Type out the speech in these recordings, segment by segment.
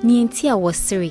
nea enti a wɔsere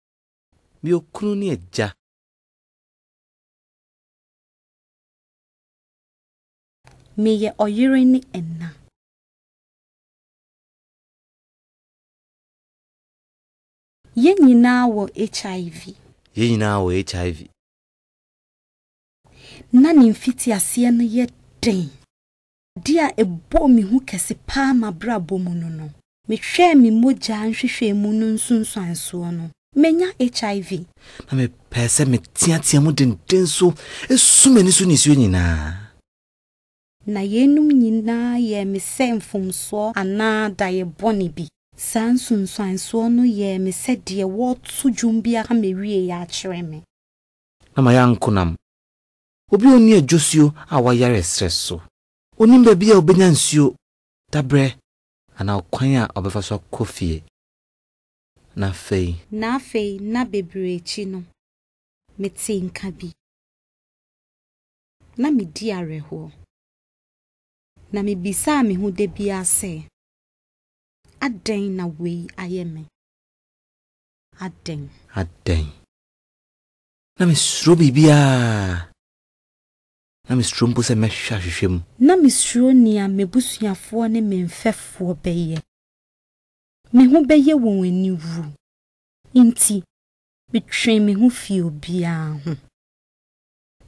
Me okunu ne agya. Meyɛ ɔyere ne ɛna. Yɛn nyinaa wɔ HIV. Yɛn nyinaa wɔ HIV. Ná ne mfitiaseɛ no yɛ den. Ade a ɛbɔɔ me hu kɛse paa m'abrabɔ mu no no. Mehwɛɛ me mogya nhwehwɛmu no nsunsuansoɔ no, manya HIV. Na mepɛɛ sɛ meteatea mu denden so su m'ani so nisuo nyinaa. Na yeinom nyinaa yɛɛ me sɛ mfomsoɔ anaa daeɛ bɔne bi. Saa nsunsuansoɔ no yɛɛ me sɛ deɛ wɔreto dwom bi aka mawieɛ akyerɛ me. Na mayɛ ankonam. Obi a onni adwosuo a wayare ɛserɛ so. Onim baabi a obenya nsuo, dabrɛ, anaa ɔkwan a ɔbɛfa so akɔ fie. Na afei. Na afei nna bebree akyi no, metee nka bi. Na medi awerɛhoɔ. Na mebisaa me ho da biara sɛ, Adɛn na wei ayɛ me? Adɛn? Adɛn? Na mesuro biribiara. Na mesuro mpo sɛ mɛhwɛ ahwehwɛ mu. Na mesuro nea m'abusuafoɔ ne me mfɛfoɔ bɛyɛ. Me ho bɛyɛ wɔn aniwu. Enti metwee me ho fii obiara ho.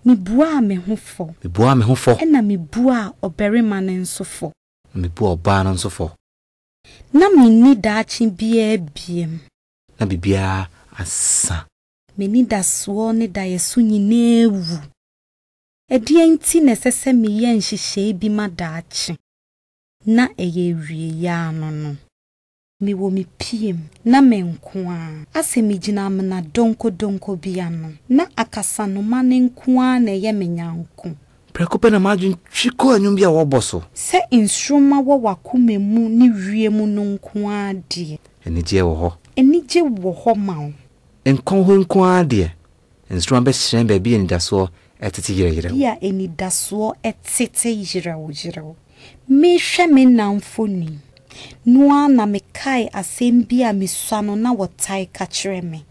Mebuaa me ho fɔ. Mebuaa me ho fɔ. Ɛnna mebuaa ɔbarima no nso fɔ. Na mebuaa ɔbaa no nso fɔ. Na menni daakye biara biem. Na biribiara asa. M'anidasoɔ ne daeɛso nyinaa awu. Ɛdeɛn nti na ɛsɛ sɛ meyɛ nhyehyɛe bi ma daakye? Ná ɛyɛ awieeɛ ara no no. Mewɔ me piam. Ná me nko ara. Asɛ megyina amena donkodonko bi ano. Ná akasanoma no nko ara na ɛyɛ me nyɛnko. Prɛko pɛ na m'adwene twi kɔɔ nnwom bi a wɔrebɔ so. Sɛ nsoromma wɔ w'akoma mu ne wiem no nko ara deɛ. Anigyeɛ wɔ hɔ. Anigye wɔ hɔ ma wo. Nkɔn hɔ nko ara deɛ. Nsoromma bɛhyerɛn baabi a anidasoɔ tete yerɛyerɛw. Baabi a anidasoɔ tete yerɛwyerɛw. Merehwɛ me nna mfoni no ara na mekae asɛm bi a misua no na wɔtae ka kyerɛ me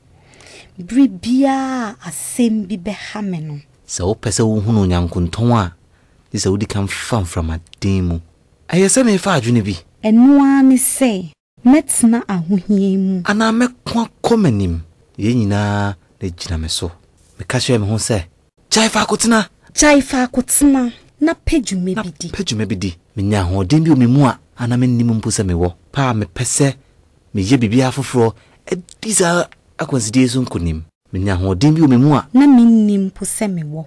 bere biara a asɛm bi bɛha me no. Sɛ wopɛ sɛ wuhu no nyankontɔn a, gye sɛ wudi kan fa mframaden mu. Ɛyɛ sɛ merefa adwene bi. Ɛno ara ne sɛ. Mɛtena ahohia mu. Anaa mɛko akɔ m'anim. Yei nyinaa na ɛgyina me so. Meka kyerɛɛ me ho sɛ, Gyae faako tena. Gyae faako tena, na pɛ dwuma bi di. Na pɛ dwuma bi di. Menya ahoɔden bi wɔ me mu a na mennim mpo sɛ mewɔ. Pɛ a mepɛ sɛ meyɛ biribiara foforɔ di saa akwansideɛ yi so nkonim. Menya ahoɔden bi wɔ me mu a. Na mennim mpo sɛ mewɔ.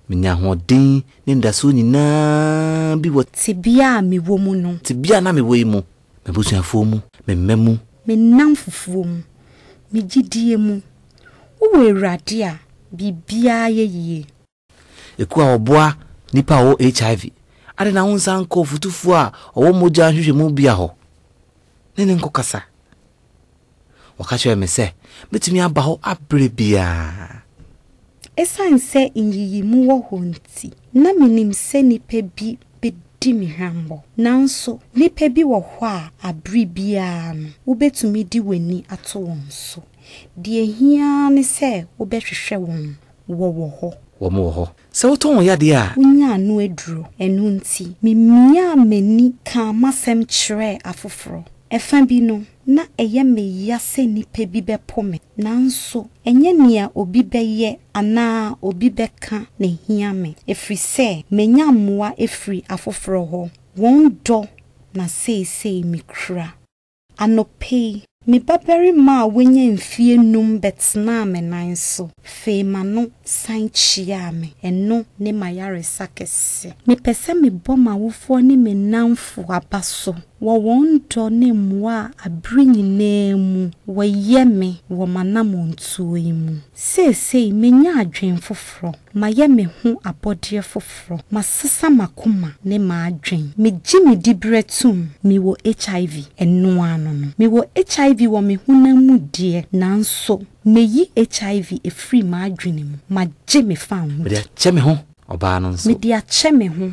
Menya ahoɔden ne anidasoɔ nyinaa bi wɔ. Tebea a mewɔ mu no. Tebea a na mewɔ yi mu. M'abusuafoɔ mu, me mma mu. Me nnamfofoɔ mu, me gyidie mu. Wowɔ Awurade a, biribiara yɛ yie. Ekuo a wɔboa nnipa a wɔwɔ HIV, adɛn na wonsan nkɔ ɔfotufoɔ a ɔwɔ mogya nhwehwɛmu bea hɔ ne no nkɔkasa? Wɔka kyerɛɛ me sɛ metumi aba hɔ bere biara. Esiane sɛ nyiyimu wɔ hɔ nti, na minim sɛ nnipa bi bedi me huammɔ. Nanso, nnipa bi wɔ hɔ a bere biara no, wubetumi de w'ani ato wɔn so. Nea ehia ara ne sɛ wobɛhwehwɛ wɔn, wɔwɔ hɔ. Wɔwɔ hɔ. Sɛ wotɔn wo yadeɛ a. Wonya ano aduro. Ɛno nti, memiaa m'ani kaa m'asɛm kyerɛɛ afoforɔ. Ɛfã bi no, na ɛyɛ me ya sɛ nnipa bi bɛpo me, nanso ɛnyɛ nea obi bɛyɛ anaa obi bɛka na ehia me, ɛfiri sɛ manya mmoa afiri afoforɔ hɔ. Wɔn dɔ na seesei mekura. Anɔpa yi, me babarima a wanya mfeɛ nnum bɛtenaa me nan so, fee m'ano san kyiaa me. Ɛno ne m'ayaresa kɛse. Mepɛ sɛ mebɔ m'awofoɔ ne me nnamfo aba so wɔ wɔn dɔ ne mmoa a bere nyinaa mu wɔyɛ me wɔ m'anammɔntuo yi mu. Seesei manya adwene foforɔ, mayɛ me ho abɔdeɛ foforɔ, masesa m'akoma ne m'adwene. Megye me diberɛ tom, mewɔ HIV, ɛno ara no no. Mewɔ HIV wɔ me honam mu deɛ, nanso mayi HIV afiri m'adwene mu, magye me fanho di. Mede akyɛ me ho, ɔbaa no nso. Mede akyɛ me ho.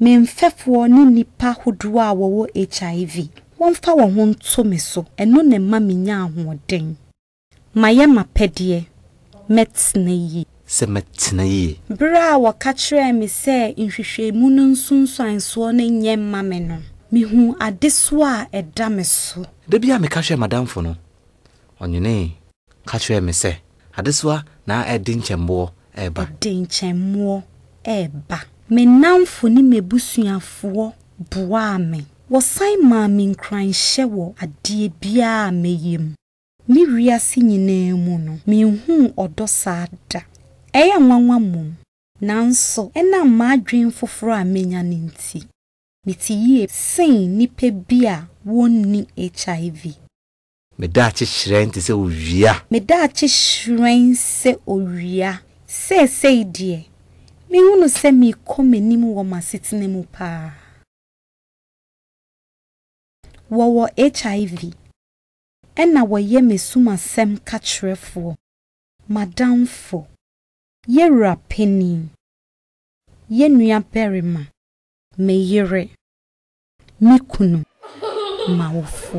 Me mfɛfoɔ ne nnipa hodoɔ a wɔwɔ HIV, wɔmfa wɔn ho nto me so, ɛno na ɛma menya ahoɔden. Mayɛ m'apɛdeɛ, mɛtena yie. Sɛ mɛtena yie. Berɛ a wɔka kyerɛɛ me sɛ nhwehwɛmu no nsunsuansoɔ no nyɛ mma me no, mehuu adesoa a ɛda me so. Da bi a meka hwɛɛ m'adamfo no, ɔnwenee. Ka kyerɛɛ me sɛ, Adesoa na ɛde nkyɛnboɔ reba. Ɛde nkyɛnmoɔ reba. Me nnamfo ne m'abusuafoɔ boaa me. Wɔsan maa me nkuranhyɛ wɔ adeɛ biara a mɛyɛ mu. Me wiase nyinaa mu no, menhuu ɔdɔ saa da. Ɛyɛ nwanwa mmom. Nanso, ɛnam m'adwene foforɔ a manya no nti, mete yie sen nnipa bi a wɔnni HIV. Me daakye hyerɛn te sɛ owia. Me daakye hyerɛn sɛ owia. Seesei deɛ, mehunu sɛ merekɔ m'anim wɔ m'asetena mu paa. Wɔwɔ HIV. Ɛna wɔyɛ m'asumasɛm kakyerɛfoɔ, m'adamfo, yɛ wura panin, yɛ nuabarima, me yere. Me kunu m'awofo.